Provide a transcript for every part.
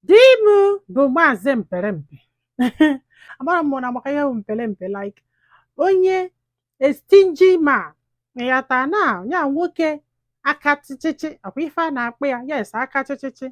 di m bụ maazị mperempe amara m na maka ihe bụ mperempe like onye a stingy man ịghọta na ya nwoke aka chịchịchị ọkwa ife a na-akpọ ya yes aka chịchịchị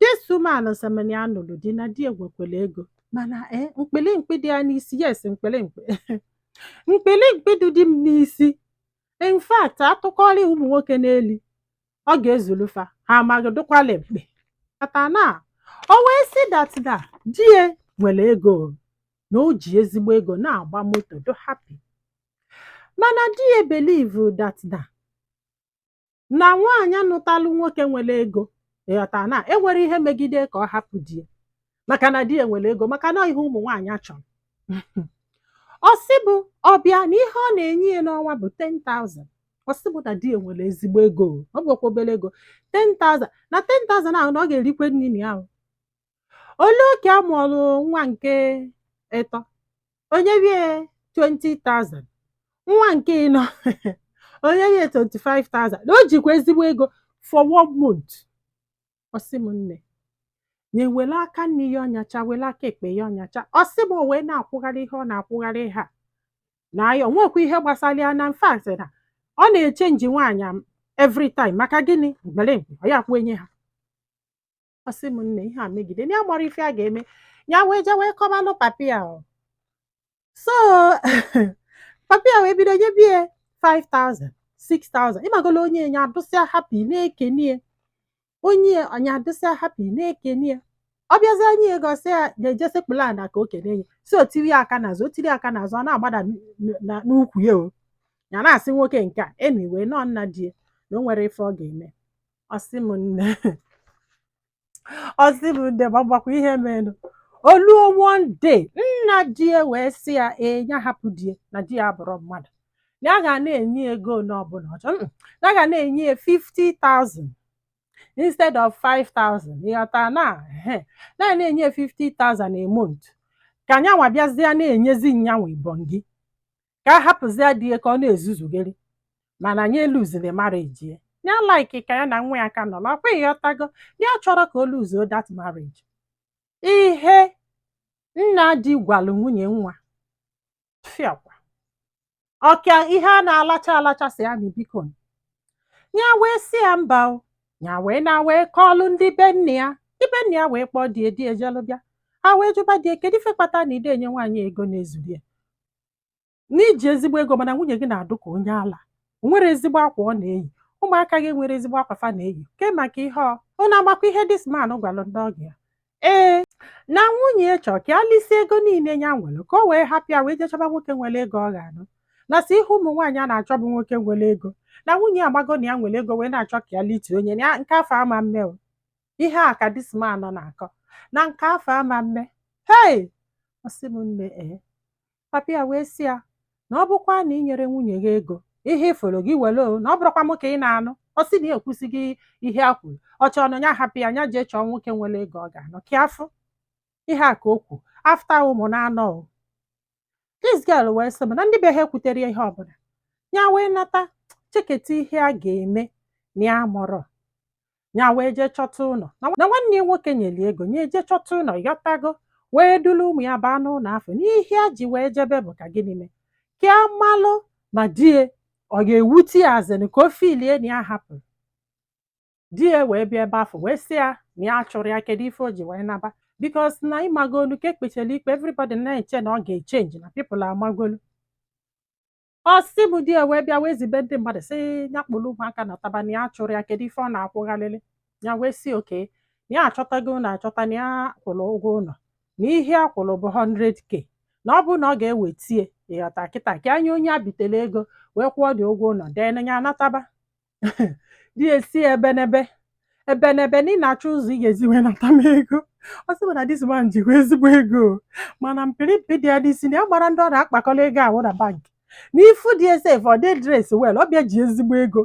this woman sị m na ya nụrụ di na di ya nwekwere ego mana ee mkpili mkpi dị ya n'isi yes mkpili mkpi mkpili mkpi dị di m n'isi in fact atụkọrị ụmụ nwoke n'elu ọ ga-ezulu fa ha amaghị dụkwala mkpe ịghọta na o wee sị that di ya nwere ego na o ji ezigbo ego na-agba moto dụ happy mana di ya believe that na nwaanyị nụtalụ nwoke nwere ego ịghọta na enwere ihe megide ka ọ hapụ di ya maka na di ya nwere ego maka na ihe ụmụ nwaanyị achọrọ ọ sị mụ ọbịa na ihe ọ na-enye ya n'ọnwa bụ 10,000 ọ sị mụ na di ya nwere ezigbo ego ọ bụkwa obere ego 10,000 na 10,000 ahụ na ọ ga-erikwe nri na ya ahụ o lue oge a mụọrụ nwa nke ịtọ o nyewe ya 20,000 nwa nke ịnọ o nyewe ya 25,000 na o jikwa ezigbo ego for one month ọ sị m nne nya were aka nni ya ọnyacha were aka ekpe ya ọnyacha ọ sị m o wee na-akwụgharị ihe ọ na-akwụgharị ha na ya onwekwa ihe gbasara ya in fact na ọ na-echenji nwaanyị every time maka gịnị mperempe ọ ya-akwụnye ha ọ sị m nne ihe a megide na ya amarọ ife a ga-eme ya wee jee wee kọbalụ papi ya so papi ya wee bido nyebe ya 5000 6000 ịmagolo o nye ya nya adụsịa happy na-ekene ya o nye ya nya adịsịa happy na-ekene ya ọ bịazie nye ya ego ọ sị ya na-eje sekpulu ana ka o kene ya sị o tiri ya aka n'azụ o tiri ya aka n'azụ ọ na-agbada n- n- na- n'ukwu ya o ya na-asị nwoke nke a anyway na ọ nna di ya na o nwere ife ọ ga-eme ọ sị m nne ọ sị m nne ma gbakwa ihe merenụ oluo one day nna di ya wee sị ya ee ya hapụ di ya na di ya abụrụ mmadụ na ya ga na-enye ya ego ole ọbụla ọ chọrọ Mm, na ya ga na-enye ya 50,000 instead of 5,000 ịghọta na ehe. na ya ga na-enye ya 50,000 a month ka nyanwa bịazie na-enyezi nyanwa ibongi ka a hapụzie di ya ka ọ na-ezuzugheri mana nya eluziri marriage ya ya like ka ya na nwa ya ka nọ na ọkwa ịghọtago ya achọrọ ka o luzuo that marriage ihe nna di gwalụ nwunye nwa fiakwa ọkwa ihe a na-alacha alacha sị ya biko ya wee sị ya mba o ya wee na wee kọọlụ ndị be nne ya ndị be nne ya wee kpọọ di ya di ya ejelu bịa ha wee jụba di ya kedu ife kpata na ị dị enye nwaanyị ego na-ezuru ya na i ji ezigbo ego mana nwunye gị na-adụ ka onye ala o nwerọ ezigbo akwa ọ na-eyi ụmụaka gị enwerọ ezigbo akwa fa na-eyi ke maka ihe ọ ọ na-amakwa ihe this man gwara ndị ọgọ ya ee na nwunye ya chọrọ ka ya lisi ego niile ya nwere ka o wee hapụ ya wee jee chọba nwoke nwere ego ọ ga-anụ na sọ ihe ụmụ nwaanyị a na-achọ bụ nwoke nwere ego na nwunye ya amago na ya nwere ego wee na-achọ ka ya lite own ya na nke afụ ama mme o ihe a ka this man nọ na-akọ na nke afụ ama mme hei ọ sị m nne ee papa ya wee sị ya na ọ bụkwa na ị nyere nwunye gị ego ihe iforo gị were o na ọ bụrụkwa m ka ị na-anụ ọ sị na ya ekwusighị ihe a kwuru ọ chọrọ na onye ahapụ ya nya jee chọọ nwoke nwere ego ọ ga-anụ ka afụ ihe a ka o kwu after ụmụ naanọ o this girl wee sị m na ndị be ha ekwuterọ ya ihe ọbụla ya wee nata cheketa ihe a ga-eme na ya mụrụ ya wee jee chọta ụlọ na nwanne ya nwoke nyere ya ego nya jee chọta ụlọ yọtago wee duru ụmụ ya baa n'ụlọ afụ na ihe ya ji wee jebe bụ ka gịnị mee ka a malụ ma di ya ọ ga-ewute ya as in ka o feel ya na ya hapụrụ di ya wee bịa ebe afụ wee sị ya na ya chụrụ ya kedu ife o ji wee naba because na ị magolu ka e kpechara ikpe everybody na-eche na ọ ga-echenji na people amagolu ọ sị m di ya wee bịa wee zibe ndị mmadụ sị ya kpụrụ ụmụaka nataba na ya chụrụ ya kedu ife ọ na-akwụgharịrị ya wee sị okay na ya achọtago ụlọ achọta na ya kwụrụ ụgwọ ụlọ na ihe a kwụrụ bụ 100k na ọ bụrụ na ọ ga-ewete ya ị ghọta kịta ka a nye onye a bitere ego wee kwụọ the ụgwọ ụlọ then nya anataba di ya asị ya ebenebe ebenebe na ị na-achọ ụzọ ị ga-esi wee nata m ego ọ sị m na this man jikwa ezigbo ego mana mpịrịmpị dị ya n'isi na ya amarọ ndị ọ na-akpakọrọ ego ahụ na bank na ị fụ di ya sef ọ dị dress well ọ bịa ji ezigbo ego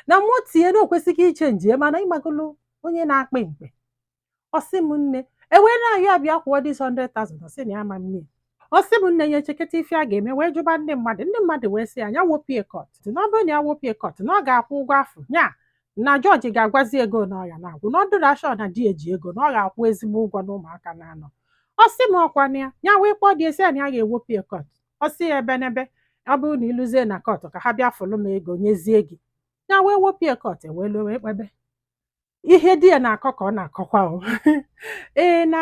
na mụ tinye na o kwesịghị ichenji ya mana ị magolu onye na-akpị mkpe ọ sị m nne e wee na-ayọ ya bịa kwụọ this 100,000 ọ sị na ya ama nnye ọ sị m nne ya echeketa ife a ga-eme wee jụba ndị mmadụ ndị mmadụ wee sị ya ya wopụ ya court na ọ bụrụ na ya wopụ ya court na ọ ga-akwụ ụgwọ afụ ya na judge ga-agwazi ya ego na ọ ya na-akwụ na ọ dụrụ ya sure na di ya ji ego na ọ ga-akwụ ezigbo ụgwọ na ụmụaka naanọ ọ sị m ọkwa na ya ya wee kpọọ di ya sị ya na ya ga-ewopụ ya court ọ sị ya ebenebe ọ bụrụ na i luzie na court ka ha bịa fụlụ m ego nyezie gị ya wee wopụ ya court e wee luo wee kpebe ihe di ya na-akọ ka ọ na-akọkwa o ee na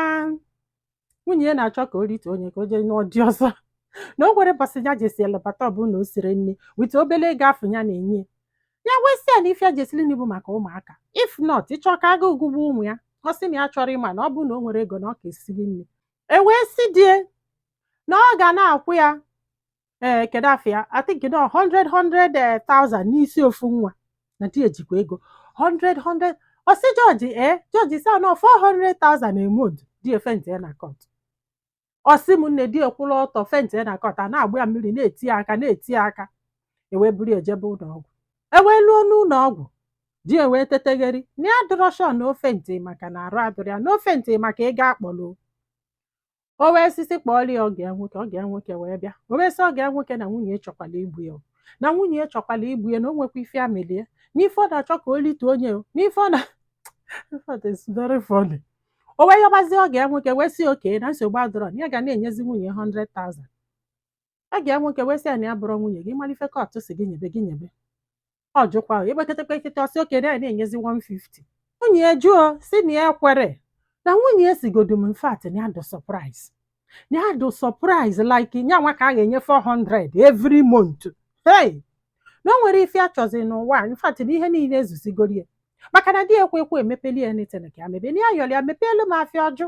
nwunye ya na-achọ ka o rite own ya ka o jee nụọ di ọzọ na o nwere ụbọsị ya jesịa labata ọ bụ na o siri nni with obele ego afụ ya na-enye ya wee sị ya na ife ya ji sili nni bụ maka ụmụaka if not ị chọ ka agụụ gụgbuo ụmụ ya ọ sị na ya chọrọ ịma na ọ bụ na o nwere ego na ọ ka esiri nni e wee sị di ya na ọ ga na-akwụ ya ee kedu afa ya I think na 100 100,000 n'isi ofu nwa na di ejikwa ego 100 100 ọ sị judge ee judge sị no 400,000 a month di e fentia na kọt ọ sị m nne di e kwụrụ ọtọ fentia na kọt a na-agba ya mmiri na-eti ya aka na-eti ya aka ewee buru e jebe ụlọ ọgwụ ewee luo n'ụlọ ọgwụ di e wee tetegheri na ya adụrọ sure na o fenti maka na arụ adụrọ ya na o fenti maka ego a kpọrọ o wee sị si kpọọrọ ya ọgọ ya nwoke ọgọ ya nwoke wee bịa o wee sị ọgọ ya nwoke na nwunye chọkwala igbu ya na nwunye chọkwala igbu ya na o nwekwa ife amelie n'ife ọ na-achọ ka o lite onye n'ife ọ na o wee yọbazie ọgọ ya nwoke wee sị okay na nsogbu adụrọ na ya ga na-enyezi nwunye 100,000 ọgọ ya nwoke wee sị ya na ya bụrụ nwunye gị malụ ife kọtụ si gị nyebe gị nyebe ọ jụkwa ekpeketekpe ekete ọ sị okay na ya na-enyezi 150 nwunye ya jụọ si na ya ekwerọ na nwunye ya sigodu m in fact na ya dụ surprise na ya dụ surprise like nya nwa ka a ga-enye 400 every month hey na o nwere ife a chọzi n'ụwa a, in fact na ihe niile ezuzigoro ya maka na di ekwe ekwe emepeli ya anything ka ya mebe na ya yọrọ ya mepeelu m afịa ọ jụ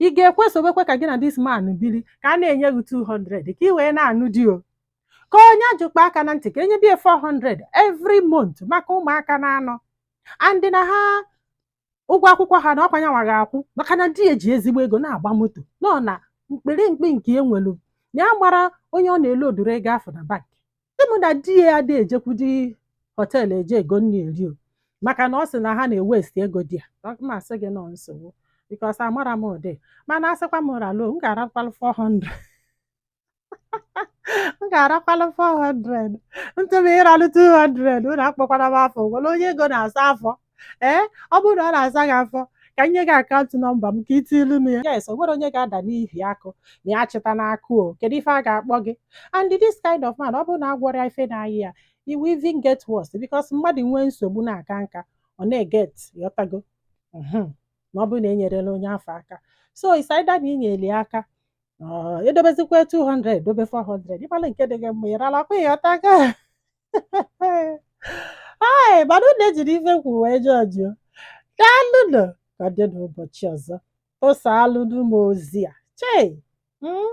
ị ga-ekwe esobekwa ka gị na this man biri ka a na-enye gị 200 ka ị wee na-anụ di o ka onye ajụkpa aka na ntị ka e nyebie 400 every month maka ụmụaka naanọ and na ha ụgwọ akwụkwọ ha na ọkwa nya nwa ga-akwụ maka na di e ji ezigbo ego na-agba moto nọ na mkpirikpi nke enwelu na ya mara onye ọ na-ele odoro ego afụ na bank ịmụ na di ya adị ejekwudi hotel eje ego nri eri o maka na ọ sị na ha na-ewesti ego di ya ma asị gị nọ nsogbu because amara m ụdị mana a sịkwa m ralo m ga-arakwalụ 400 m ga-arakwalụ 400 ntụm ịralụ 200 unu akpọkwana m afa o nwere onye ego na-asa afọ ee ọ bụrụ na ọ na-asa gị afọ ka m nye gị account number m ka ị tilu m ya yes o nwere onye ga-ada n'ihi akụ ma ya chịta n'akụ o kedu ife a ga-akpọ gị and this kind of man ọ bụrụ na a gwọrọ ya ife na-ayị ya he will even get worse because mmadụ nwee nsogbu na-aka nka ọ na-eget ịghọtago Mhm. ma ọ bụrụ na e nyerela onye afụ aka so it's either na i nyeli aka ọ, edobezikwa 200 dobe 400 ị mala nke dị gị mma ị ralakwa ịghọtago Hai, mana unu ejiri ife kwuru wee jọjụọ. Daalụnụ ka ọ dị n'ụbọchị ọzọ. Tụsaalụnụ m ozi a. Chei! Mm?